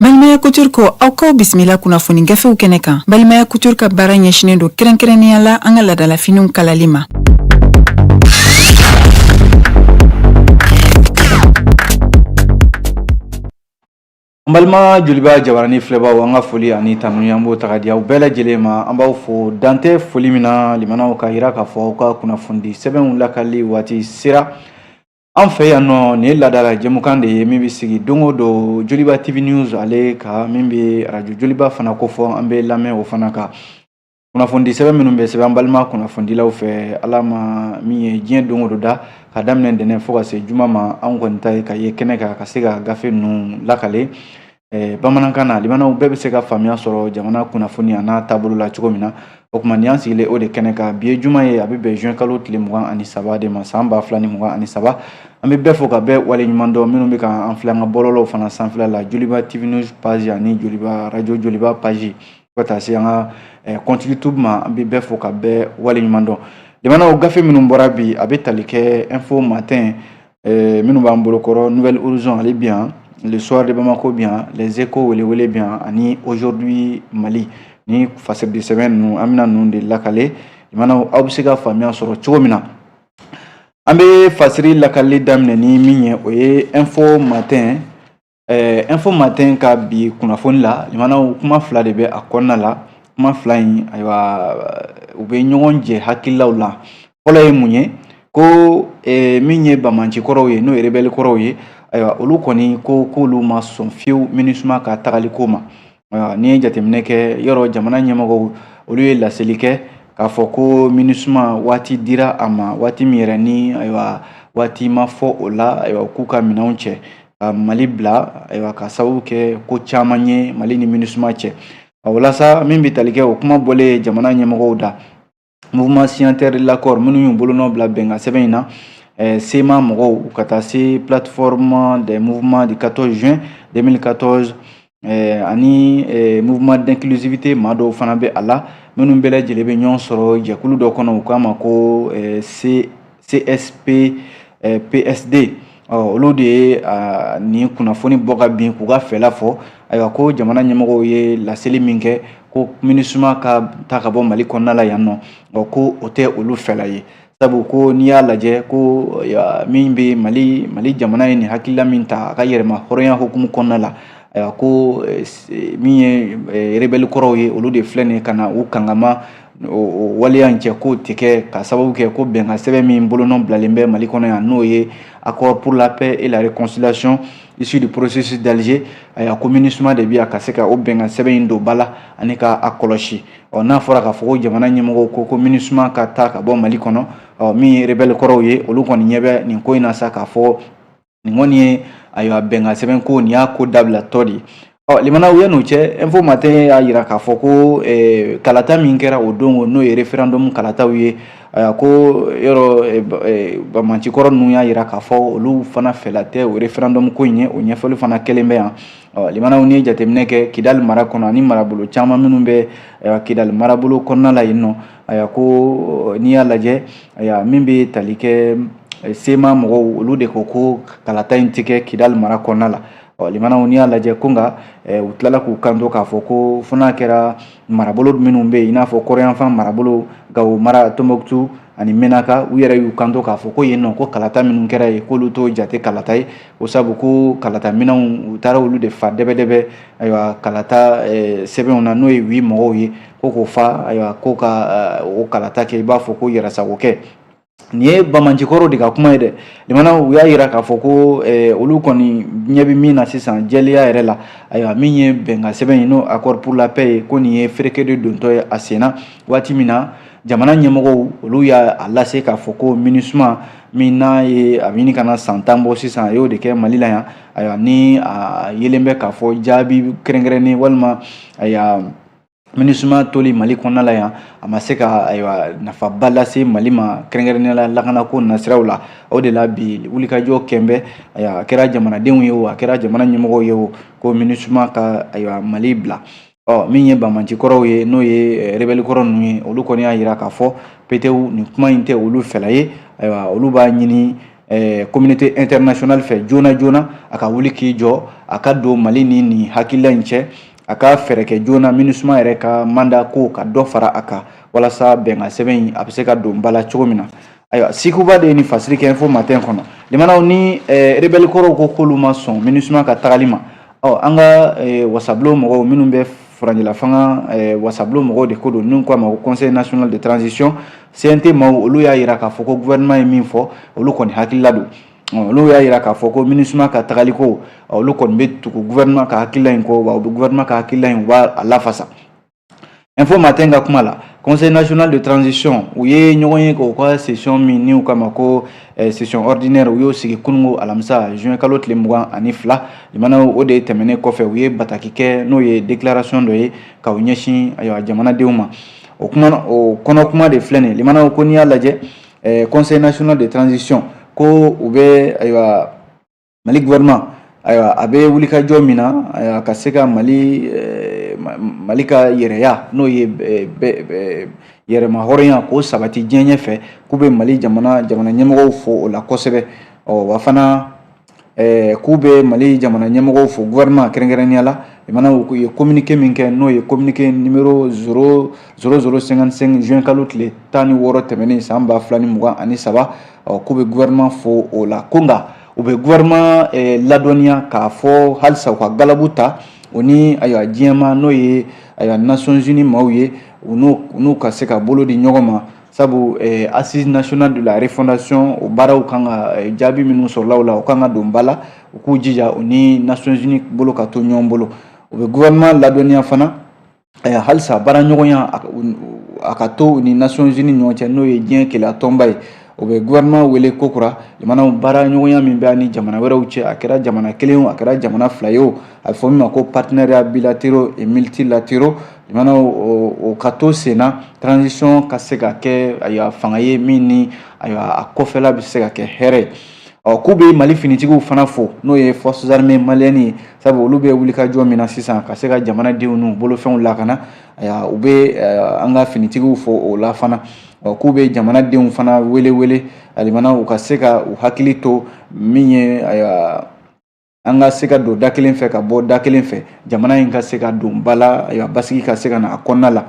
Balimaya Couture ko aw k'aw bisimila kunnafoni gafew kɛnɛ kan. Balimaya Couture ka baara ɲɛsinnen don kɛrɛnkɛrɛnnenya la an ka ladalafiniw kalali ma. An balima joliba jabaranin filɛbaaw an ka foli ani tanuni an b'o ta ka di aw bɛɛ lajɛlen ma an b'aw fo dan tɛ foli min na limanaw k'a jira k'a fɔ aw ka kunnafonidi sɛbɛnw lakali waati sera An fɛ yan nɔ nin ye laadala jɛmukan de ye min bɛ sigi don o don Joliba TV News ale kan min bɛ arajo Joliba fana kofɔ an bɛ lamɛn o fana kan kunnafonidi sɛbɛn minnu bɛ sɛbɛn an balima kunnafonidilaw fɛ Ala ma min ye diɲɛ don o don da ka daminɛ ntɛnɛn fo ka se juma ma anw kɔni ta ye ka ye kɛnɛ kan ka se ka gafe ninnu lakale eh, bamanankan na limanaw bɛɛ bɛ se ka faamuya sɔrɔ jamana kunnafoni a n'a taabolo la cogo min na o tuma nin y'an sigilen o de kɛnɛ kan bi ye juma ye a bɛ bɛn juin kalo tile mugan ani saba de ma san ba fila ni mugan ani saba an bɛ bɛɛ fo ka bɛɛ waleɲuman dɔn minnu bɛ ka an filɛ an ka bɔlɔlɔw fana sanfɛla la joliba tv news page ani joliba radio joliba page fo ka taa se an ka eh, compte youtube ma an bɛ bɛɛ fo ka bɛɛ waleɲuman dɔn limanaw gafe minnu bɔra bi a bɛ tali kɛ info matin eh, minnu b'an bolo kɔrɔ nouvel horizon ale bi yan le soir de bamako bi yan les échos welewele bi yan ani aujourd'hui mali ni fasiridi sɛbɛn ninnu an bɛna ninnu de lakale limanaw aw bɛ se ka faamuya sɔrɔ cogo min na an bɛ fasiri lakali daminɛ ni min ye o ye info matin info matin ka bi kunnafoni la limanaw kuma fila de bɛ a kɔnɔna la kuma fila in ayiwa u bɛ ɲɔgɔn jɛ hakililaw la fɔlɔ ye mun ye ko min ye banbaanci kɔrɔw ye n'o ye rebɛli kɔrɔw ye ayiwa olu kɔni ko k'olu ma sɔn fiyewu minisuma ka tagali ko ma n'i ye jateminɛ kɛ yɔrɔ jamana ɲɛmɔgɔw olu ye laseli kɛ k'a fɔ ko minisuma waati dira a ma waati min yɛrɛ ni ayiwa waati ma fɔ o la ayiwa k'u ka minɛnw cɛ ka mali bila ayiwa ka sababu kɛ ko caman ye mali ni minisuma cɛ walasa min bɛ tali kɛ o kuma bɔlen jamana ɲɛmɔgɔw da mouvement signataire de l'accord minnu y'u bolonɔ bila bɛnkan sɛbɛn in na eh, CMA mɔgɔw ka taa se plateforme des mouvements du 14 juin 2014 Eh, ani eh, mouvement d'inclusivité maa dɔw fana bɛ a la minnu bɛɛ lajɛlen bɛ ɲɔgɔn sɔrɔ jɛkulu dɔ kɔnɔ u k'a ma ko eh, CSP PSD ɔ olu de ye nin kunnafoni bɔ ka bin k'u ka fɛla fɔ ayiwa ko jamana ɲɛmɔgɔw ye laseli min kɛ ko minisuma ka taa ka bɔ mali kɔnɔna la yan nɔ ɔ ko o tɛ olu fɛla ye sabu ko n'i y'a lajɛ ko min bɛ mali mali jamana ye nin hakilila min ta a ka yɛrɛmahɔrɔnya hukumu kɔnɔna la ayiwa ko eh, eh, min ye eh, rebɛli kɔrɔw ye olu de filɛ nin ye ka na u kangama o waleya in cɛ k'o tɛ kɛ ka sababu kɛ ko bɛnkan sɛbɛn min bolonɔ bilalen bɛ mali kɔnɔ yan n'o ye accord pour la paix et la réconciliation issu du processus d'Alger ayiwa ko minisuma de bɛ yan ka se ka o bɛnkan sɛbɛn in don ba la ani ka a kɔlɔsi ɔ n'a fɔra k'a fɔ ko jamana ɲɛmɔgɔw ko ko minisuma ka taa ka bɔ mali kɔnɔ ɔ min ye rebɛli kɔrɔw ye olu kɔni ɲɛ bɛ nin ko in na sa k'a fɔ nin kɔni ye ayiwa bɛnkan sɛbɛn ko nin y'a ko dabilatɔ de ye ɔ limanaw yan n'o cɛ info matin y'a jira k'a fɔ ko eh, kalata min kɛra o don n'o ye referendum kalataw ye eh, ko yɔrɔ eh, eh, bamancikɔrɔ ninnu y'a jira k'a fɔ olu fana fɛla tɛ o referendum ko in ye o ɲɛfɔli fana kɛlen bɛ yan ɔ limanaw n'i ye jateminɛ kɛ kidali mara kɔnɔ ani marabolo caman minnu bɛ ayiwa kidali marabolo kɔnɔna la yen nɔ ayiwa ko n'i y'a lajɛ ayiwa min bɛ tali kɛ sema mɔgɔw olu de ko ko kalata in tɛ kɛ kidali mara kɔnɔna la ɔ limanaw n'i y'a lajɛ ko nka u tilala k'u kanto k'a fɔ ko fo n'a kɛra marabolo minnu bɛ yen i n'a fɔ kɔrɔnyanfan marabolo gawo mara tombouctou ani menaka u yɛrɛ y'u kanto k'a fɔ ko yen nɔ ko kalata minnu kɛra yen k'olu t'o jate kalata ye o sabu ko kalata minɛnw u taara olu de fa dɛbɛdɛbɛ ayiwa kalata eh, sɛbɛnw na n'o ye oui mɔgɔw ye ko k'o fa ayiwa ko ka eh, o kalata kɛ i b'a fɔ ko yɛrɛsagokɛ nin ye bamancikɔrɔw de ka kuma ye dɛ limanaw u y'a yira k'a fɔ ko eh, olu kɔni ɲɛ bɛ min na sisan jɛlenya yɛrɛ la ayiwa min ye bɛnkan sɛbɛn ye n'o accord pour la paix ye ko nin ye fereke de dontɔ ye a sen na waati min na jamana ɲɛmɔgɔw olu y'a lase k'a fɔ ko minusuma min n'a ye a bɛ ɲini ka na san tan bɔ sisan a y'o de kɛ mali la yan ayiwa ni a yelen bɛ k'a fɔ jaabi kɛrɛnkɛrɛnnen walima ayiwa minisuma toli mali kɔnɔna la yan a ma se ka ayiwa nafaba lase mali ma kɛrɛnkɛrɛnnenya la lakanako nasiraw la o de la bi wulikajɔ kɛlen bɛ ayiwa a kɛra jamanadenw ye o a kɛra jamana ɲɛmɔgɔw ye o ko minisuma ka ayiwa mali bila ɔ min ye bamancikɔrɔw ye n'o ye rebɛli kɔrɔ ninnu ye olu kɔni y'a jira k'a fɔ petewu nin kuma in tɛ olu fɛla ye ayiwa olu b'a ɲini communauté internationale fɛ joona joona a ka wuli k'i jɔ a ka don mali ni nin hakilila in cɛ a ka fɛɛrɛ kɛ joona minusuma yɛrɛ ka mandat ko ka dɔ fara a kan walasa bɛnkan sɛbɛn in a bɛ se ka don ba la cogo min na ayiwa sikou bah de ye nin fasiri kɛ info matin kɔnɔ limanaw ni rebɛli kɔrɔw ko k'olu ma sɔn minusuma ka tagali ma Ɔ an ka wasabulon mɔgɔw minnu bɛ furancɛla fanga wasabulon mɔgɔw de ko don n'u k'a ma ko conseil national de transition CNT maaw olu y'a jira k'a fɔ ko gouvernement ye min fɔ olu kɔni hakilila don olu y'a jira k'a fɔ ko minisuma ka tagaliko olu kɔni bɛ tugu gouvernement ka hakilila in kɔ wa u bɛ gouvernement ka hakilila in u b'a lafasa info matin ka kuma la conseil national de transition u ye ɲɔgɔn ye k'u ka session min ni u k'a ma ko eh, session ordinaire u y'o sigi kununko alamisa juin kalo tile mugan ani fila limana o de tɛmɛnen kɔfɛ u ye bataki kɛ n'o ye déclaration dɔ ye ka u ɲɛsin ayiwa jamanadenw ma o kuma o kɔnɔ kuma de filɛ nin ye limana ko n'i y'a lajɛ eh, conseil national de transition ko u bɛ ayiwa mali gouvernement ayiwa a bɛ wulikajɔ min na ayiwa ka se ka mali eh, mali ka yɛrɛya n'o ye eh, yɛrɛma hɔrɔnya k'o sabati diɲɛ ɲɛfɛ k'u bɛ mali jamana jamana ɲɛmɔgɔw fo o la kosɛbɛ ɔ wa fana eh, k'u bɛ mali jamana ɲɛmɔgɔw fo gouvernement kɛrɛnkɛrɛnnenya la limana u ye communiqué min kɛ n'o ye communiqué numéro zéro zéro cinquante-cinq juin kalo tile tan ni wɔɔrɔ tɛmɛnen san ba fila ni mugan ani saba ɔ k'u bɛ gouvernement fo o la ko nka u bɛ gouvernement ladɔnniya k'a fɔ halisa u ka galabu ta o ni ayiwa diɲɛ maaw n'o ye ayiwa nations unies maaw ye u n'u ka se ka bolo di ɲɔgɔn ma sabu assises nationales de la refondation o baaraw kan ka jaabi minnu sɔrɔla o la o kan ka don ba la u k'u jija u ni nations unies bolo ka to ɲɔgɔn bolo u bɛ gouvernement ladɔnniya fana halisa baara ɲɔgɔnya a ka to u ni nations unies ɲɔgɔn cɛ n'o ye diɲɛ kelenya tɔnba ye u bɛ gouvernement wele kokura limana baara ɲɔgɔnya min bɛ ni jamana wɛrɛw cɛ a kɛra jamana kelen o a kɛra jamana fila ye o a bɛ fɔ min ma ko partenariat bilatéraux et multilatéraux limana o ka to sen na transition ka se ka kɛ ayiwa fanga ye min ni ayiwa a kɔfɛla bɛ se ka kɛ hɛrɛ ye ɔ k'u bɛ mali finitigiw fana fo n'o ye forces armées maliennes ye sabu olu bɛ wulikajɔ min na sisan ka se ka jamanadenw n'u bolofɛnw lakana u bɛ an ka finitigiw fo o la fana k'u bɛ jamanadenw fana wele wele alimana u ka se ka u hakili to min ye an ka se ka don da kelen fɛ ka bɔ da kelen fɛ jamana in ka se ka don ba la basigi ka se ka na a kɔnɔna la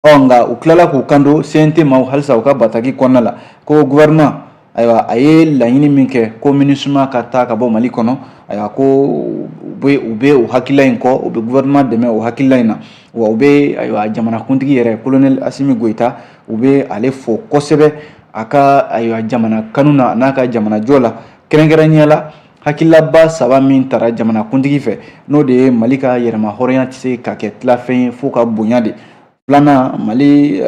ɔ nka u tilala k'u kanto cnt maaw halisa u ka bataki kɔnɔna la ko gouvernement ayiwa a ye laɲini min kɛ ko minusma ka taa ka bɔ mali kɔnɔ ayiwa ko u bɛ u bɛ o hakilila in kɔ u bɛ gouvernement dɛmɛ o hakilila in na wa u bɛ ayiwa jamanakuntigi yɛrɛ colonel assimi goïta u bɛ ale fo kosɛbɛ a ka ayiwa jamana kanu na an'a ka jamanajɔ la kɛrɛnkɛrɛnnenya la hakililaba saba min tara jamanakuntigi fɛ n'o de ye mali ka yɛrɛma hɔrɔnya tɛ se ka kɛ tilafɛn ye f'o ka bonya de filanan mali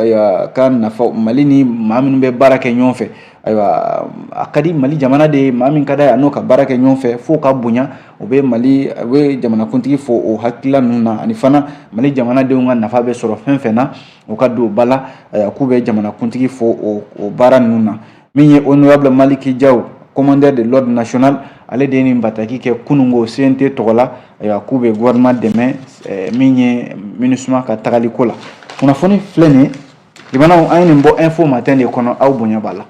ka nafa mali ni maa minnu bɛ baara kɛ ɲɔgɔn fɛ ayiwa a ka di mali jamana de ye maa min ka d'a ye a n'o ka baara kɛ ɲɔgɔn fɛ f'o ka bonya u bɛ mali u bɛ jamanakuntigi fo o hakilila ninnu na ani fana mali jamanadenw ka nafa bɛ sɔrɔ fɛn fɛn na o ka don ba la k'u bɛ jamanakuntigi fo o baara ninnu na min ye honorable maliki jaw commandeur de l'ordre national ale de ye nin bataki kɛ kunungo cnt tɔgɔ la ayiwa k'u bɛ gouvernement dɛmɛ eh, min ye minusma ka tagali ko la kunnafoni filɛ nin ye limanaw an ye nin bɔ info matin de kɔnɔ aw bonya b'a la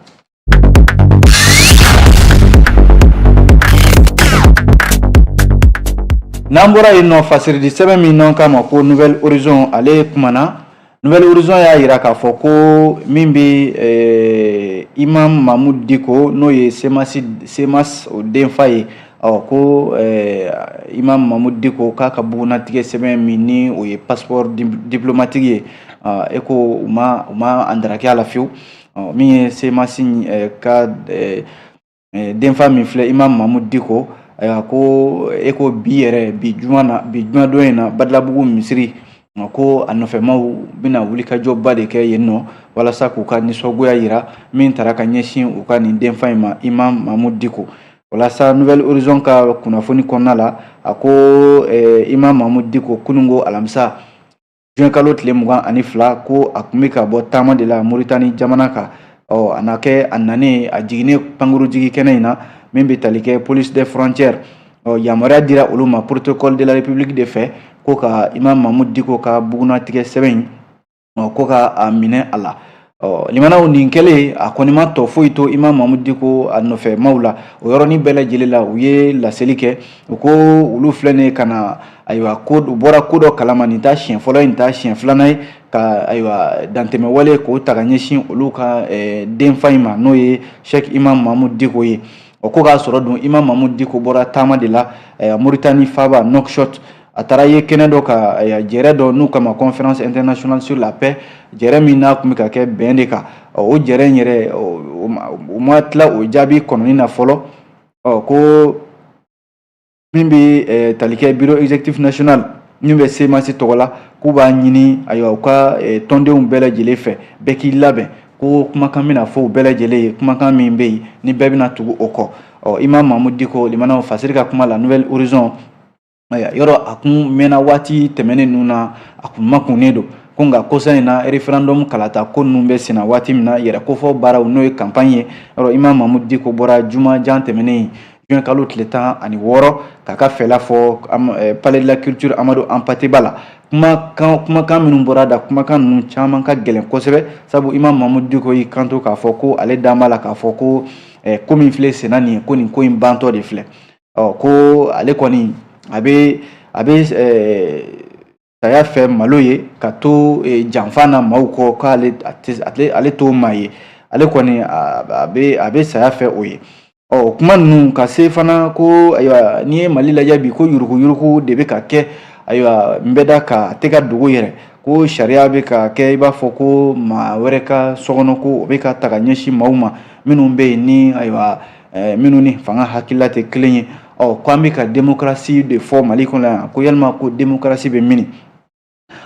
n'an bɔra yen nɔ fasiridi sɛbɛn min n'an k'a ma ko nouvelle horizon ale kumana Nouvelle Horizon y'a jira k'a fɔ ko min bɛ eh, Imam Mahmud Diko n'o ye CMAS CMAS o denfa ye ɔ ko eh, Imam Mahmud Diko k'a ka bugunnatigɛ sɛbɛn min ni o ye passeport diplomatique ye ah, e ko u ma u ma andaraki a la fiyewu min ye CMAS eh, ka eh, denfa min filɛ imam mahmud diko ayiwa ko e ko bi yɛrɛ bi juma don in na badalabugu misiri ko a nɔfɛmaw bɛna wulikajɔba de kɛ yen nɔ walasa k'u ka nisɔngoya jira min taara ka ɲɛsin u ka nin denfa in ma imam mahmud diko walasa nouvelle horizon ka kunnafoni kɔnɔna la a ko eh, imam mahmud diko kunungo alamisa juin kalo tile mugan ani fila ko a tun bɛ ka bɔ taama de la moritani jamana kan ɔ a na kɛ a nanen a jiginnen pankurujigi kɛnɛ in na min bɛ tali kɛ police des frontières ɔ yamaruya dira olu ma protocole de la république de fɛ ko ka imam mahmud diko ka bugunnatigɛ sɛbɛn in ɔ ko ka a minɛ a la Ɔ limanaw nin kɛlen a kɔni ma tɔ foyi to imam mahmud diko a nɔfɛ maaw la o yɔrɔnin bɛɛ lajɛlen la u ye laseli kɛ u ko olu filɛ nin ka na ayiwa ko u bɔra ko dɔ kalama nin t'a siɲɛ fɔlɔ ye nin t'a siɲɛ filanan ye ka ayiwa dantɛmɛwale k'o ta ka ɲɛsin olu ka denfa in ma n'o ye cheick imam mahmud diko ye o ko k'a sɔrɔ dun imam mahmud diko bɔra taama de la moritani faaba nouakchott a taara yen kɛnɛ dɔ kan jɛrɛ dɔ n'u k'a ma conférence internationale sur la paix jɛrɛ min n'a tun bɛ ka kɛ bɛn de kan o jɛrɛ in yɛrɛ u ma tila o jaabi kɔnɔni na fɔlɔ ko min bɛ tali kɛ bureau exécutif national min bɛ cmas tɔgɔ la k'u b'a ɲini ayiwa u ka tɔndenw bɛɛ lajɛlen fɛ bɛɛ k'i labɛn ko kumakan bɛna fɔ u bɛɛ lajɛlen ye kumakan min bɛ yen ni bɛɛ bɛna tugu o kɔ ɔ imam mahmud diko limanaw fasiri ka kuma la nouvelle horizon yɔrɔ a kun mɛnna waati tɛmɛnen ninnu na a kun makunnen don ko nka kɔsa in na référendum kalata ko ninnu bɛ senna waati min na yɛrɛ kofɔ baaraw n'o ye campagne ye yɔrɔ imam mahmud diko bɔra juma jan tɛmɛnen juin kalo tile tan ani wɔɔrɔ k'a ka fɛla fɔ eh, palais de la culture amadou hampâté ba la kumakan kumakan minnu bɔra a da kumakan ninnu caman ka gɛlɛn kosɛbɛ sabu imam mahmud diko y'i kanto k'a fɔ ko ale dan b'a la k'a fɔ ko eh, ko min filɛ senna nin ye ko nin ko in bantɔ de filɛ ɔ ko ale kɔni a bɛ a bɛ saya fɛ malo ye ka to janfa na maaw kɔ k'ale ale t'o maa ye ale kɔni a bɛ a bɛ saya fɛ o ye ɔ o kuma ninnu ka se fana ko ayiwa n'i ye mali lajɛ bi ko yuruguyurugu de bɛ ka kɛ ayiwa n bɛ da ka tɛ ka dogo yɛrɛ ko sariya bɛ ka kɛ i b'a fɔ ko maa wɛrɛ ka sokɔnɔ ko o bɛ ka taa ka ɲɛsin maaw ma minnu bɛ yen ni ayiwa eh, minnu ni fanga hakilila tɛ kelen ye ɔ ko an bɛ ka demokarasi de fɔ mali kɔnɔ yan ko yalima ko demokarasi bɛ mini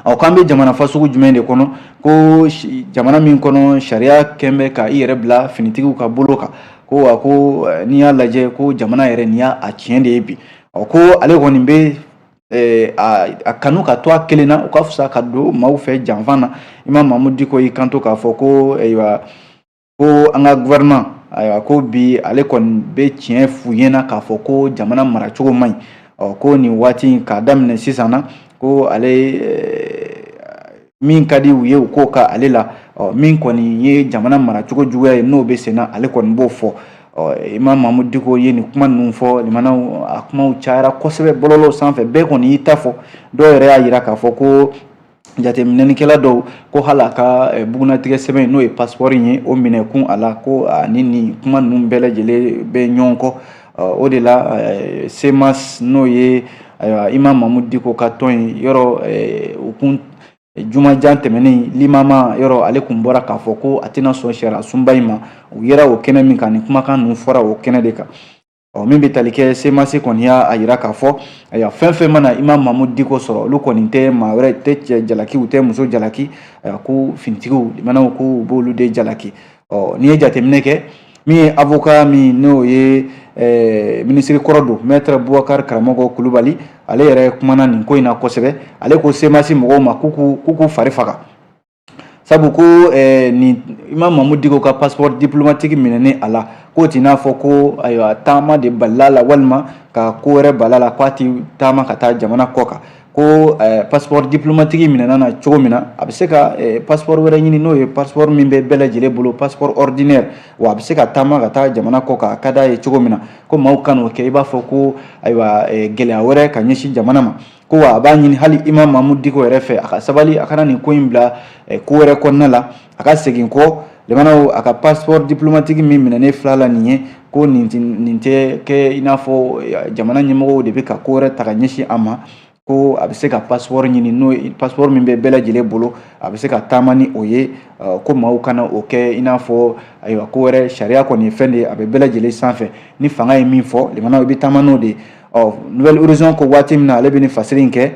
ɔ ko an bɛ jamana fasugu jumɛn de kɔnɔ ko jamana min kɔnɔ sariya kɛn bɛ ka i yɛrɛ bila finitigiw ka bolo kan ko wa ko eh, n'i y'a lajɛ ko jamana yɛrɛ nin y'a a tiɲɛ de ye bi ɔ ko ale kɔni bɛ Eh, a kanu ka to a kelen na o ka fisa ka don maaw fɛ janfa na imam mamudu diko y'i kanto k'a fɔ ko ayiwa ko an ka gouvernement ayiwa ko bi ale kɔni bɛ tiɲɛ f'u ɲɛna k'a fɔ ko jamana maracogo man ɲi ɔ ko nin waati in k'a daminɛ sisan na ko ale min ka di u ye u k'o ka ale la ɔ min kɔni ye jamana maracogo juguya ye n'o bɛ sen na ale kɔni b'o fɔ ɔ imam mamudu diko ye nin kuma ninnu fɔ limanaw a kumaw cayara kosɛbɛ bɔlɔlɔw sanfɛ bɛɛ kɔni y'i ta fɔ dɔw yɛrɛ y'a jira k'a fɔ ko jateminɛlikɛla dɔw ko hali a ka eh, bugunnatigɛ sɛbɛn n'o ye pasipɔri ye o minɛkun a la ko ani nin kuma ninnu bɛɛ lajɛlen bɛ ɲɔgɔn kɔ o de la eh, semas n'o ye ayiwa imam mamudu diko ka tɔn ye yɔrɔ eh, u kun jumajan tɛmɛnen limama yɔrɔ ale kun bɔra k'a fɔ ko a tɛna sɔn sariyasunba in ma u yera o kɛnɛ min kan nin kumakan ninnu fɔra o kɛnɛ de kan ɔ min bɛ tali kɛ semasi kɔni y'a a yira k'a fɔ ayiwa fɛn fɛn mana imam mamudu diko sɔrɔ olu kɔni tɛ maa wɛrɛ tɛ cɛ jalaki u tɛ muso jalaki ayiwa ko finitigiw limanaw ko u b'olu de jalaki ɔ n'i ye jateminɛ kɛ min ye avoka min n'o ye eh, minisiri kɔrɔ don mɛtre bubakari karamɔgɔ kulubali ale yɛrɛ kumana nin ko in na kosɛbɛ ale ko semasi mɔgɔw ma k'u k'u fari faga sabu ko eh, ni imam mamudu diko ka passeport diplomatique minɛni a la k'o t'i n'a fɔ ko ayiwa taama de balil'a la walima ka ko wɛrɛ bal'a la k'a ti taama ka taa jamana kɔkan ko eh, passeport diplomatique minɛn'a na cogo min na a bɛ se ka eh, passeport wɛrɛ ɲini n'o ye passeport min bɛ bɛɛ lajɛlen bolo passeport ordinaire wa a bɛ se ka taama ka taa jamana kɔkan a ka d'a ye cogo min na ko maaw kan'o kɛ i b'a fɔ ko ayiwa eh, gɛlɛya wɛrɛ ka ɲɛsin jamana ma ko wa a b'a ɲini hali imam mamudu diko yɛrɛ fɛ a ka sabali a kana nin ko in bila ko wɛrɛ kɔnɔna la a ka segin kɔ limanaw a ka passeport diplomatique min minɛnen filɛ a la nin ye ko nin tɛ kɛ i n'a fɔ jamana ɲɛmɔgɔw de bɛ ka ko wɛrɛ ta ka ɲɛsin a ma ko a bɛ se ka passeport ɲini n'o passeport min bɛ bɛɛ lajɛlen bolo a bɛ se ka taama ni o ye ko maaw kana o kɛ i n'a fɔ ayiwa ko wɛrɛ sariya kɔni ye fɛn de ye a bɛ bɛɛ lajɛlen sanfɛ ni fanga ye min fɔ limanaw i bɛ taama n'o de ye ɔ nouvel horizon ko waati min na ale bɛ nin fasiri in kɛ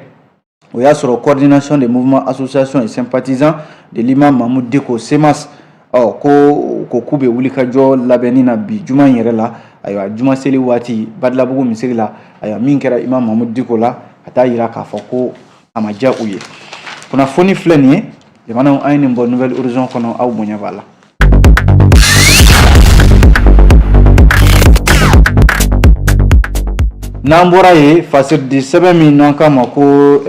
o y'a sɔrɔ coordination des mouvements associations et sympathisants de l'imam mamudu diko CMAS ɔ ko ko k'u bɛ wulikajɔ labɛnni na bi juma in yɛrɛ la ayiwa juma seli waati badalabugu misiri la ayiwa min kɛra imam mamudu diko la ka taa yira k'a fɔ ko a ma diya u ye kunnafoni filɛ nin ye limanaw an ye nin bɔ nouvel horizon kɔnɔ aw bonya b'a la N'an bɔra yen fasiridi sɛbɛn min n'an k'a ma ko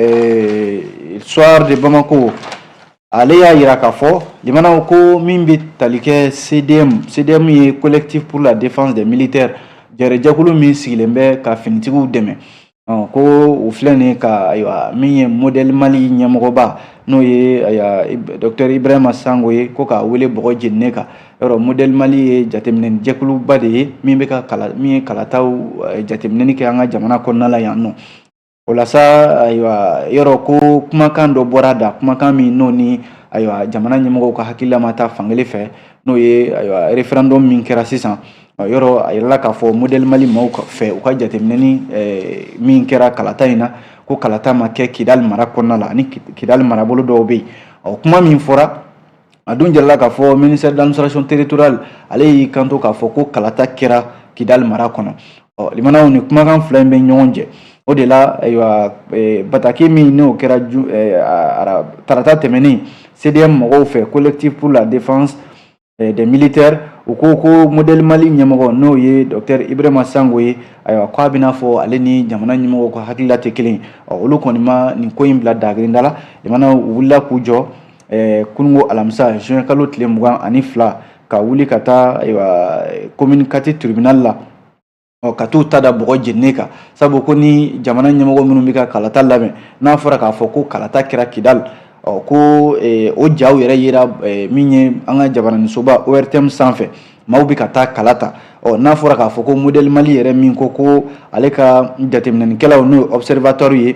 Soir de Bamako ale y'a yira k'a fɔ limanaw ko min bɛ tali kɛ CDM CDM ye collectif pour la défense des militaires jɛrɛ jɛkulu min sigilen bɛ ka finitigiw dɛmɛ ko o filɛ nin ka ayiwa min ye modèle mali ɲɛmɔgɔba n'o ye ayiwa docteur ibrahima sango ye ko k'a wele bɔgɔ jeninen kan yɔrɔ modèle mali ye jateminɛ jɛkuluba de ye min bɛ ka kala min ye kalataw eh, jateminɛni kɛ an ka jamana kɔnɔna la yan nɔ o la sa ayiwa yɔrɔ ko kumakan dɔ bɔra a da kumakan min n'o ni ayiwa jamana ɲɛmɔgɔw ka hakilila ma taa fan kelen fɛ n'o ye ayiwa référendum min kɛra sisan yɔrɔ a yirala k'a fɔ modèle Mali maaw fɛ u ka jateminɛni min kɛra kalata in na ko kalata ma kɛ Kidali mara kɔnɔna la ani Kidali marabolo dɔw bɛ yen ɔ kuma min fɔra a dun jirala k'a fɔ ministère d'administration territoriale ale y'i kanto k'a fɔ ko kalata kɛra Kidali mara kɔnɔ ɔ limanaw nin kumakan fila in bɛ ɲɔgɔn jɛ o de la ayiwa bataki min n'o kɛra tarata tɛmɛnen CDM mɔgɔw fɛ collectif pour la défense eh, des militaires u ko ko modèle mali ɲɛmɔgɔ n'o ye docteur ibrahima sango ye ayiwa ko a b'i n'a fɔ ale ni jamana ɲɛmɔgɔ ka hakilila tɛ kelen olu kɔni ma nin ko in bila dagirinda la limanaw u wulila k'u jɔ eh, kunungo alamisa juin kalo tile mugan ani fila ka wuli ka taa ayiwa commune quatre tribunal la ɔ ka t'u ta da bɔgɔ jeninen kan sabu ko ni jamana ɲɛmɔgɔ minnu bɛ ka kalata labɛn n'a fɔra k'a fɔ ko kalata kɛra kidali ɔ ko o jaw yɛrɛ yera min ye an ka jabaranisoba ortm sanfɛ maaw bɛ ka taa kala ta ɔ n'a fɔra k'a fɔ ko modèle mali yɛrɛ min ko ko ale ka jateminɛnikɛlaw n'o ye observateur ye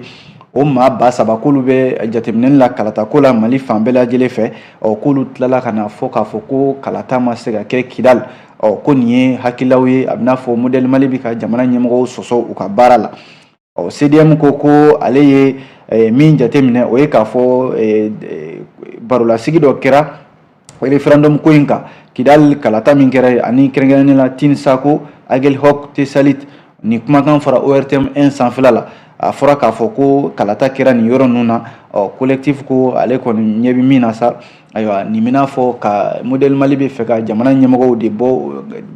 o maa ba saba k'olu bɛ jateminɛli la kalata ko la mali fan bɛɛ lajɛlen fɛ ɔ k'olu tilala ka n'a fɔ k'a fɔ ko kalata ma se ka kɛ kidali ɔ ko nin ye hakililaw ye a bɛ n'a fɔ modèle mali bɛ ka jamana ɲɛmɔgɔw sɔsɔ u ka baara la ɔ cdm ko ko ale ye eh, min jateminɛ o ye k'a fɔ eh, eh, barolasigi dɔ kɛra referendum ko in kan kidali kalata min kɛra ani kɛrɛnkɛrɛnnen la Tin-Essako Aguelhok Tessalit nin kumakan fɔra ORTM 1 sanfɛla la a fɔra k'a fɔ ko kalata kɛra nin yɔrɔ ninnu na ɔ collectif ko ale kɔni ɲɛ bɛ min na sa ayiwa nin bɛ n'a fɔ ka modèle Mali b'a fɛ ka jamana ɲɛmɔgɔw de bɔ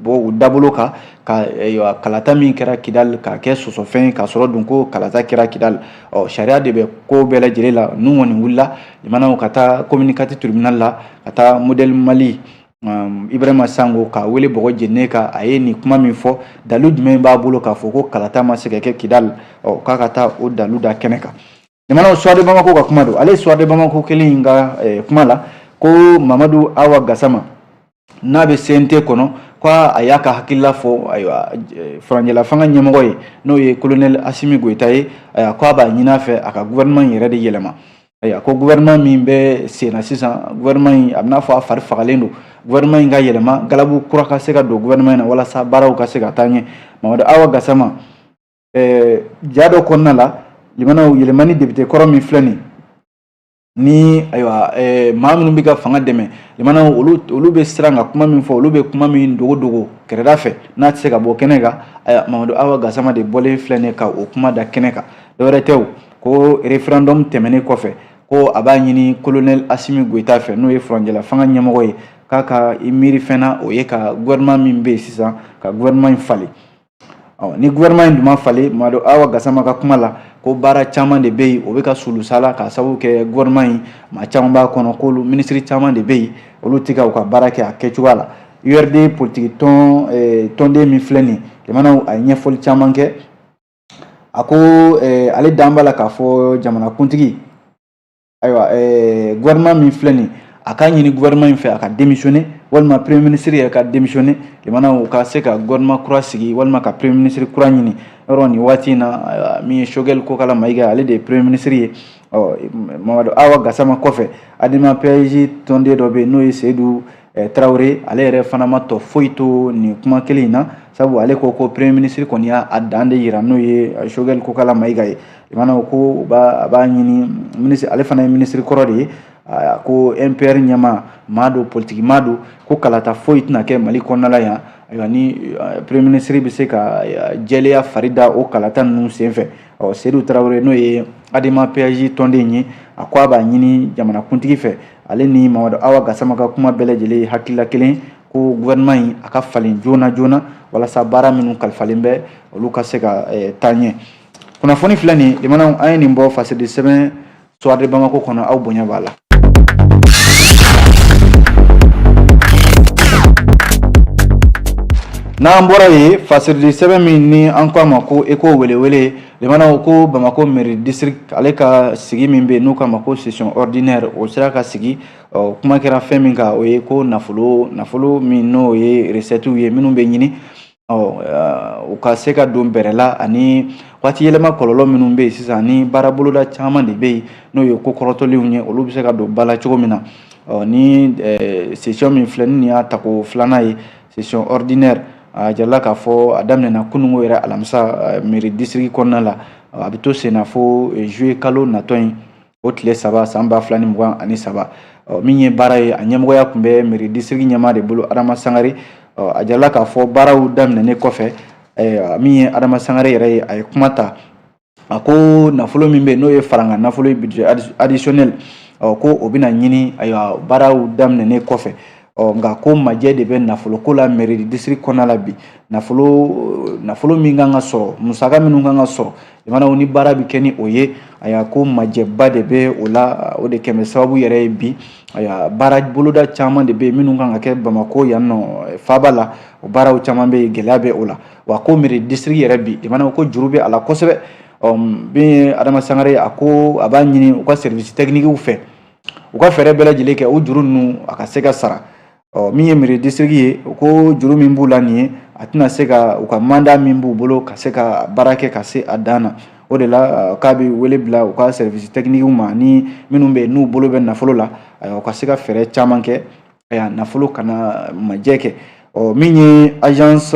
bɔ u dabolo kan ka ayiwa kalata min kɛra Kidali k'a kɛ sɔsɔfɛn ye k'a sɔrɔ dun ko kalata kɛra Kidali ɔ sariya de bɛ ko bɛɛ lajɛlen la ninnu kɔni wulila lamɛnnaw ka taa commune 4 tribunal la ka taa modèle Mali Ibrahima Sango k'a wele bɔgɔ jeni kan a ye nin kuma min fɔ dalu jumɛn b'a bolo k'a fɔ ko kalata ma se ka kɛ kidali k'a ka taa o dalu da kɛnɛ kan lamɛnnaw Soir de Bamako ka kuma don ale Soir de Bamako kelen in ka kuma la ko Mamadu Awa Gasama n'a bɛ CNT kɔnɔ ko a y'a ka hakilila fɔ ayiwa furancɛla fanga ɲɛmɔgɔ ye n'o ye kolonɛli asimi goyita ye ko a b'a ɲini a fɛ a ka gouvernement yɛrɛ de yɛlɛma ayiwa ko gouvernement min bɛ senna sisan gouvernement in a bɛ n'a fɔ a fari fagalen don gouvernement in ka yɛlɛma galabu kura ka se ka don gouvernement in na walasa baaraw ka se ka taa ɲɛ Mamadu Awa Gasama ja dɔ kɔnɔna la lamɛnnaw Yelimani depite kɔrɔ min filɛ nin ni ayiwa maa minnu bɛ ka fanga dɛmɛ lamɛnnaw olu bɛ siran ka kuma min fɔ olu bɛ kuma min dogo dogo kɛrɛda fɛ n'a tɛ se ka bɔ kɛnɛ kan Mamadu Awa Gasama de bɔlen filɛ nin ka o kuma da kɛnɛ kan dɔwɛrɛ tɛ ko referendum tɛmɛnen kɔfɛ ko a b'a ɲini kolonɛli asimi goyita fɛ n'o ye furancɛla fanga ɲɛmɔgɔ ye k'a ka i miiri fɛn na o ye ka gouvernement min bɛ yen sisan ka gouvernement in falen ɔ ni gouvernement in dun ma falen Mamadu Awa Gasama ka kuma la ko baara caman de bɛ yen o bɛ ka sulusala k'a sababu kɛ gouvernement in maa caman b'a kɔnɔ k'olu minisiri caman de bɛ yen olu tɛ ka u ka baara kɛ a kɛcogoya la URD politiki tɔn tɔnden min filɛ nin ye lamɛnnaw a ye ɲɛfɔli caman kɛ a ko eh, ale dalen b'a la k'a fɔ jamanakuntigi ayiwa eh, gouvernement min filɛ nin a k'a ɲini gouvernement in fɛ a ka démissionner walima premier ministre yɛrɛ ka démissionner lamɛnnaw ka se ka gouvernement kura sigi walima ka premier ministre kura ɲini yɔrɔ nin waati in na min ye Choguel Kokala Mayiga ale de ye premier ministre ye ɔ Mamadu Awa Gasama kɔfɛ Adema PASJ tɔnden dɔ bɛ yen n'o ye Seyidu Eh, tarawele ale yɛrɛ fana ma tɔ foyi to nin kuma kelen in na sabu ale ko ko premier ministre kɔni y'a dan de yira n'o ye eh, sogɛli kokala mayiga ye lamɛnnaw ko a b'a ɲini ministre ale fana ye ministre kɔrɔ de ye ah, ko mpr ɲɛmaa maa don politiki maa don ko kalata foyi tɛna kɛ mali kɔnɔna la yan ayiwa ni eh, premier ministre bɛ se ka jɛlenya fari da o kalata ninnu senfɛ ɔ sedu tarawele n'o ye adema PASJ tɔnden ye a ko a b'a ɲini jamanakuntigi fɛ ale ni mamadu awa gasama ka kuma bɛɛ lajɛlen ye hakilila kelen ko gouvernement in a ka falen joona joona walasa baara minnu kalifalen bɛ olu ka se ka eh, taa ɲɛ kunnafoni filɛ nin lamɛnnaw an ye nin bɔ fasirili sɛbɛn Soir de Bamako kɔnɔ aw bonya b'a la. n'an bɔra yen fasirili sɛbɛn min ni an ko a ma ko eko welewele lamɛnnaw ko bamako mairie district ale ka sigi min bɛ yen n'u k'a ma ko session ordinaire o sera ka sigi ɔ kuma kɛra fɛn min kan o ye ko nafolo nafolo min n'o ye recettes ye minnu bɛ ɲini u ka se ka don bɛrɛ la ani waati yɛlɛma kɔlɔlɔ minnu bɛ yen sisan ni baara boloda caman de bɛ yen n'o ye ko kɔrɔtɔlenw ye olu bɛ se ka don ba la cogo min na ni sesiyɔn min filɛ nin y'a tako filanan ye sesiyɔn ɔridinɛri a jirala k'a fɔ a daminɛna kunungo yɛrɛ alamisa mɛri disiriki kɔnɔna la a bɛ to senna fo zuye kalo natɔ in o tile saba san ba fila ni mugan ani saba min ye baara ye a ɲɛmɔgɔya tun bɛ mɛri disiriki ɲɛmaa de bolo adama sangare a jirala k'a fɔ baaraw daminɛnen kɔfɛ min ye adama sangare yɛrɛ ye a ye kuma ta a ko nafolo min bɛ yen n'o ye farankan nafolo ye budget additionnel ko o bɛna ɲini ayiwa baaraw daminɛnen kɔfɛ ɔ nka ko majɛ de bɛ nafolo ko la mɛri disiriki kɔnɔna la bi nafolo nafolo min kan ka sɔrɔ musaka minnu kan ka sɔrɔ jamanaw ni baara bɛ kɛ ni o ye ayiwa ko majɛba de bɛ o la o de kama sababu yɛrɛ ye bi ayiwa baara boloda caman de bɛ minnu kan ka kɛ bamako yan nɔ faaba la o baaraw caman bɛ gɛlɛya bɛ o la wa ko mɛri disiriki yɛrɛ bi jamanaw ko juru bɛ a la kosɛbɛ bi adama sangare a ko a b'a ɲini u ka sɛriwisi tɛkinikiw fɛ u ka fɛɛrɛ bɛɛ lajɛlen kɛ o juru ninnu a ka se ka sara ɔ min ye miri disiriki ye o ko juru min b'u la nin ye a tɛna se ka u ka manda min b'u bolo ka se ka baara kɛ ka se a dan na o de la k'a bɛ wele bila u ka sɛrivisi tɛkinikiw ma ni minnu bɛ yen n'u bolo bɛ nafolo la u ka se ka fɛɛrɛ caman kɛ nafolo kana majɛ kɛ ɔ min ye agence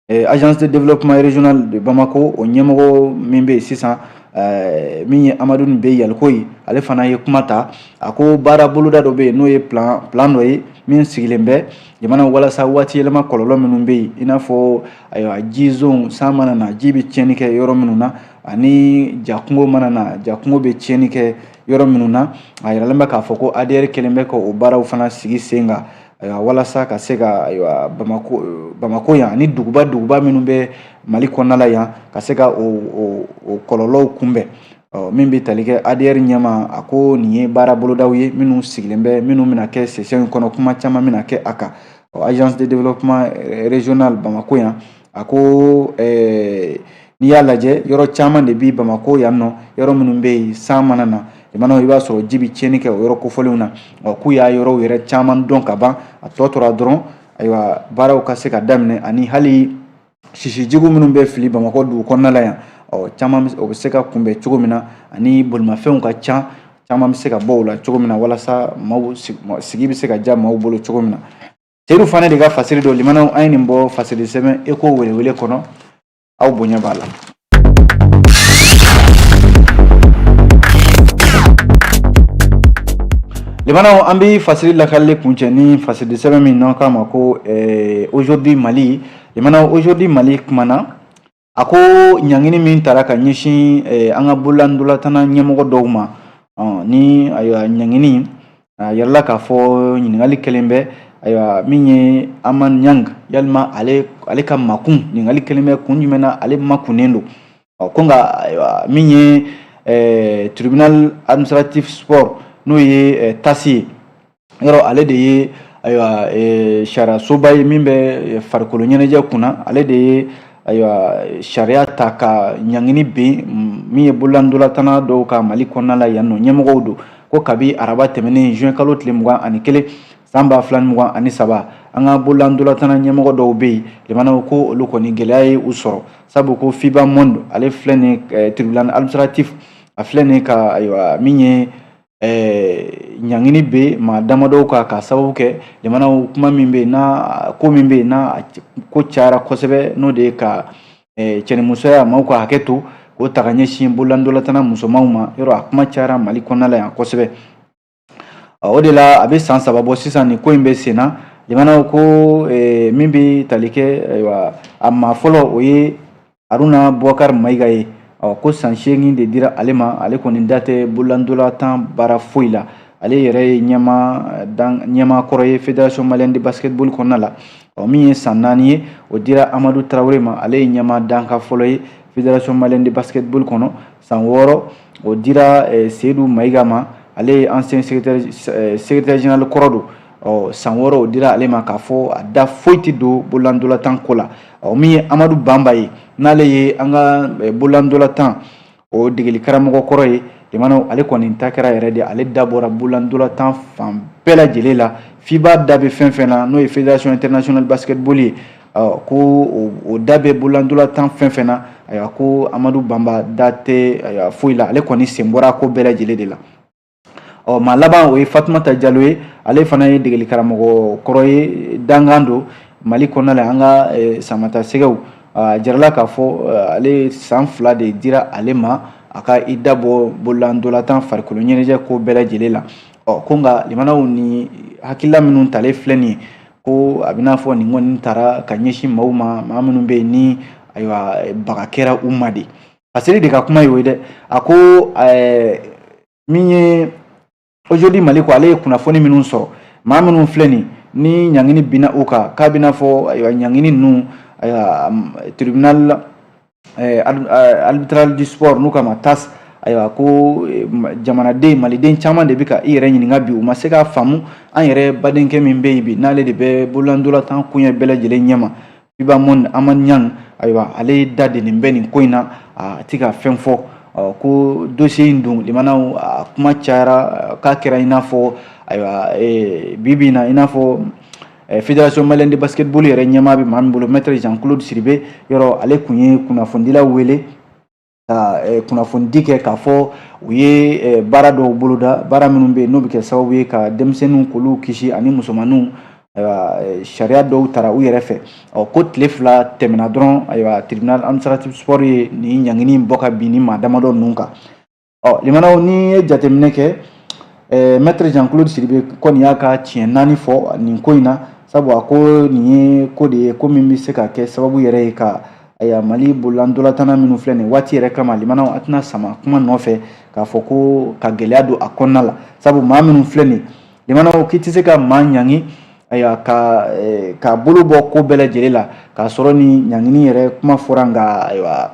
agence de développement régional de Bamako o ɲɛmɔgɔ min bɛ yen sisan eh, min ye Amadu Be Yalikoye ale fana ye kuma ta a ko baara boloda dɔ bɛ yen n'o ye plan plan dɔ ye min sigilen bɛ jamana walasa waati yɛlɛma kɔlɔlɔ minnu bɛ yen i n'a fɔ ayiwa ji zonw san mana na ji bɛ tiɲɛni kɛ yɔrɔ minnu na ani jakɔngɔ mana na jakɔngɔ bɛ tiɲɛni kɛ yɔrɔ minnu na a yiralen bɛ k'a fɔ ko ADR kɛlen bɛ ka o baaraw fana sigi sen kan Ayiwa walasa ka se ka ayiwa Bamako ɔ Bamako yan ani duguba duguba minnu bɛ Mali kɔnɔna la yan ka se ka o o o kɔlɔlɔw kunbɛn ɔ min bɛ tali kɛ ADR ɲɛmaa a ko nin ye baara bolodaw ye minnu sigilen bɛ minnu bɛna kɛ session in kɔnɔ kuma caman bɛna kɛ a kan ɔ agence de développement régional Bamako yan a ko eh, n'i y'a lajɛ yɔrɔ caman de bi bamakɔ yan nɔ yɔrɔ minnu bɛ yen san mana na limanaw i b'a sɔrɔ ji bɛ tiɲɛni kɛ o yɔrɔ kofɔlenw na ɔ k'u y'a yɔrɔw yɛrɛ caman dɔn ka ban a tɔ tora dɔrɔn ayiwa baaraw ka se ka daminɛ ani hali sisijugu minnu bɛ fili bamakɔ dugu kɔnɔna la yan ɔ caman o bɛ se ka kunbɛn cogo min na ani bolimafɛnw ka ca caman bɛ se ka bɔ o la cogo min na walasa maaw sigi bɛ se ka diya maaw bolo cogo min na seyidu fane de ka fasiri don limanaw an ye nin bɔ fasiri di sɛbɛn eko welewele kɔnɔ aw bonya b'a la limanaw an bɛ fasiri lakalili kuncɛ ni fasiri di sɛbɛn min n'an k'a ma ko eh, aujourd'hui mali limanaw aujourd'hui mali kumana A ko ɲangini min taara ka ɲɛsin eh, an ka bololandolatana ɲɛmɔgɔ dɔw ma ni ayiwa ɲangini a yirala k'a fɔ ɲininkali kɛlen bɛ ayiwa min ye Aman Ɲang ye limanaw ale ale ka makun ɲininkali kɛlen bɛ kun jumɛn na ale makunnen don ɔ ko nka ayiwa min ye eh, tribunal administratif sport n'o ye eh, tasi ye yɔrɔ ale de ye ayiwa e, sariyasoba ye min bɛ farikolo ɲɛnajɛ kunna ale de ye ayiwa sariya ta ka ɲangini bin min ye bololandolatana dɔw kan mali kɔnɔna la yan nɔ ɲɛmɔgɔw don ko kabi araba tɛmɛnen juin kalo tile mugan ani kelen san ba fila ni mugan ani saba an ka bololandolatana ɲɛmɔgɔ dɔw bɛ yen limanaw ko olu kɔni gɛlɛya ye u sɔrɔ sabu ko fiba monde ale filɛ ni eh, tribunal administratif a filɛ ni ka ayiwa min ye ɛɛ ɲangini bin maa damadɔw kan k'a sababu kɛ limanaw kuma min bɛ yen n'a ko min bɛ yen n'a ko cayara kosɛbɛ n'o de ye ka ɛɛ cɛnimusoya maaw ka hakɛ to k'o ta ka ɲɛsin bololandolatana musomanw ma yɔrɔ a kuma cayara mali kɔnɔna la yan kosɛbɛ o de la a bɛ san saba bɔ sisan nin ko in bɛ sen na limanaw ko min bɛ tali kɛ ayiwa a maa fɔlɔ o ye haruna bubakari mayiga ye ɔ ko san seegin de dira ale ma ale kɔni da tɛ bololandolatan baara foyi la ale yɛrɛ ye ɲɛmaa dan ɲɛmaa kɔrɔ ye fédération malienne de basketball kɔnɔna la ɔ min ye san naani ye o dira amadu tarawele ma ale ye ɲɛmaa dankan fɔlɔ ye fédération malienne de basketball kɔnɔ san wɔɔrɔ o dira seyidu mayiga ma ale ye ancien secrétaire général kɔrɔ don ɔ san wɔɔrɔ o dira ale ma k'a fɔ a da foyi tɛ don bololandolatan ko la ɔ min ye amadu banba ye n'ale ye an ka bololandolatan o degeli karamɔgɔ kɔrɔ ye limanaw ale kɔni ta kɛra yɛrɛ de ale da bɔra bololandolatan fan bɛɛ lajɛlen la fiba da bɛ fɛn fɛn na n'o ye fédération internationale basketball ye ko o da bɛ bololandolatan fɛn fɛn na ayiwa ko amadu banba da tɛ foyi la ale kɔni sen bɔra ko bɛɛ lajɛlen de la ɔ maa laban o ye fatumata jalo ye ale fana ye degeli karamɔgɔ kɔrɔ ye dankan don mali kɔnɔna la an ka samata sɛgɛw a jarala k'a fɔ ale san fila de dira ale ma a ka i dabɔ bololandolatan farikolo ɲɛnajɛ ko bɛɛ lajɛlen la ɔ ko nka limanaw ni hakilila minnu talen filɛ nin ye ko a bɛn'a fɔ nin kɔni taara ka ɲɛsin maaw ma maa minnu bɛ yen ni ayiwa baga kɛra u ma de a seere de ka kuma ye o ye dɛ a ko min ye Aujourd'hui Mali ko ale ye kunnafoni minnu sɔrɔ maa minnu filɛ nin ni ɲangini binna u kan k'a bɛn'a fɔ ayiwa ɲangini ninnu ayiwa tribunal eh, eh, arbitral du sport n'u k'a ma TAS ayiwa ko eh, jamanaden maliden caman de bɛ ka i yɛrɛ ɲininka bi u ma se k'a faamu an yɛrɛ badenkɛ min bɛ yen bi n'ale de bɛ bololandolatan koɲɛ bɛɛ lajɛlen ɲɛma FIBA Monde amani ɲang ayiwa ale da delen bɛ nin ko in na a ti ka fɛn fɔ ko dosiye in dun limanaw a kuma cayara k'a kɛra i n'a fɔ ayiwa bi bi in na i n'a fɔ Fédération malienne de basketball yɛrɛ ɲɛmaa bɛ maa min bolo maître Jean Claude Sidibe yɔrɔ ale tun ye kunnafonidilaw wele ka eh, kunnafonidi kɛ k'a fɔ u ye eh, baara dɔw boloda baara minnu bɛ yen n'o bɛ kɛ sababu ye ka denmisɛnninw k'olu kisi ani musomaninw ayiwa eh, sariya dɔw tara u yɛrɛ fɛ ɔ ko tile fila tɛmɛna dɔrɔn ayiwa tribunal administratif sport ye nin ɲangini in bɔ k'a bin nin maa damadɔ ninnu kan ɔ limanaw n'i ye jateminɛ kɛ ɛɛ maître Jean Claude Sidibe kɔni y'a ka tiɲɛ naani fɔ nin ko in na sabu a ko nin ye ko de ye ko min bɛ se ka kɛ sababu yɛrɛ ye ka ayiwa mali bololandolatanna minnu filɛ nin waati yɛrɛ kama limanaw a tɛna sama kuma nɔfɛ k'a fɔ ko ka gɛlɛya don a kɔnɔna la sabu maa minnu filɛ nin limanaw k'i tɛ se ka maa ɲangi ayiwa ka eh, k'a bolo bɔ ko bɛɛ lajɛlen la k'a sɔrɔ ni ɲangini yɛrɛ kuma fɔra nka ayiwa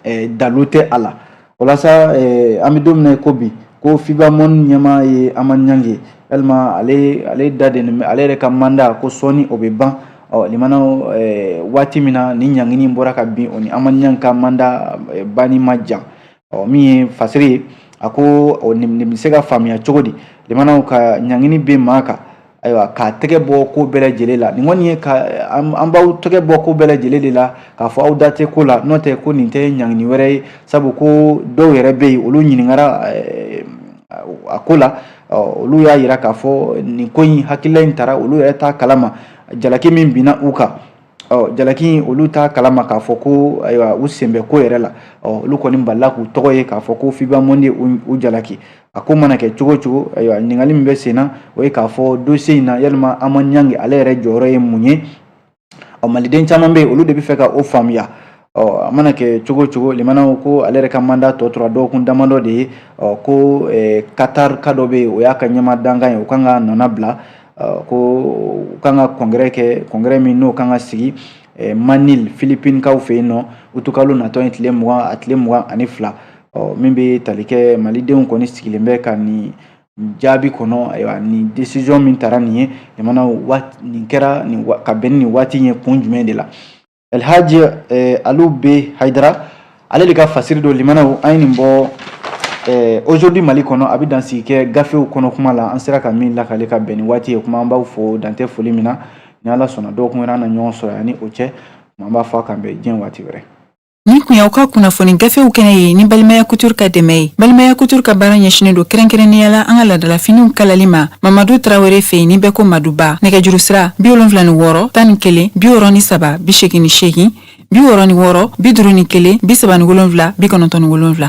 eh, dalu tɛ a la walasa eh, an bɛ don min na ko bi ko FIBA Monde ɲɛmaa ye amani ɲang ye yalima ale ale da de bɛ ale yɛrɛ ka manda ko sɔɔni o bɛ ban ɔ limanaw eh, waati min na ni ɲangini bɔra ka bin o ni amani ɲang ka manda eh, banni ma jan ɔ min ye fasiri ye a ko nin bɛ se ka faamuya cogo di limanaw ka ɲangini bin maa kan Ayiwa k'a tɛgɛ bɔ ko bɛɛ lajɛlen la nin kɔni ye k'an b'aw tɛgɛ bɔ ko bɛɛ lajɛlen de la k'a fɔ aw da tɛ ko la n'o tɛ ko nin tɛ ɲangini wɛrɛ ye sabu ko dɔw yɛrɛ bɛ yen olu ɲininkara a ko la olu y'a yira k'a fɔ nin ko in hakilila in tara olu yɛrɛ t'a kalama jalaki min binna u kan ɔ jalaki olu t'a kalama k'a fɔ ko ayiwa u sen bɛ ko yɛrɛ la ɔ olu kɔni balila k'u tɔgɔ ye k'a fɔ ko fiba monde u jalaki a ko mana kɛ cogo cogo ayiwa ɲininkali min bɛ sen na o ye k'a fɔ dosiye in na yalima aman ɲangi ale yɛrɛ jɔyɔrɔ ye mun ye ɔ maliden caman bɛ yen olu de bɛ fɛ ka o faamuya Ɔ a mana kɛ cogo cogo limanaw ko ale yɛrɛ ka manda tɔ tora dɔgɔkun damadɔ de ye ɔ ko katar ka dɔ bɛ yen o y'a ka ɲɛmaa dankan ye o kan k'a nɔna bila k'u kan ka kɔngɛrɛ kɛ kɔngɛrɛ min n'o kan ka sigi manili filipinkaw fɛ yen n'o utikalo natɔ in tile mugan a tile mugan ani fila ɔ min bɛ tali kɛ malidenw kɔni sigilen bɛ ka nin jaabi kɔnɔ ayiwa nin desizɔn min taara nin ye nin kɛra ka bɛn ni nin waati ye kun jumɛn de la alhaji eh, alu be hayidara ale de ka fasiri don limanaw an ye nin bɔ eh, aujourd'hui mali kɔnɔ a bɛ dansigi kɛ gafew kɔnɔ kuma la an sera ka min lakale ka bɛn ni waati ye kuma an b'aw fo dantɛ foli min na ni ala sɔnna dɔgɔkun wɛrɛ an na ɲɔgɔn sɔrɔ yani o cɛ an b'a fɔ a k'an bɛn diɲɛ waati wɛrɛ nin kun y'aw ka kunnafoni gafew kɛnɛ ye ni balimaya kutur ka dɛmɛ ye balimaya kutur ka baara ɲɛsinnen don kɛrɛnkɛrɛnnenya la an ka ladalafiniw kalali ma mamadu tarawele fɛ yen ni bɛɛ ko maduba nɛgɛjuru sira bi wolonfila ni wɔɔrɔ tan ni kelen bi wɔɔrɔ ni saba bi segin ni segin bi wɔɔrɔ ni wɔɔrɔ bi duuru ni kelen bi saba ni wolonfila bi kɔnɔntɔn ni wolonfila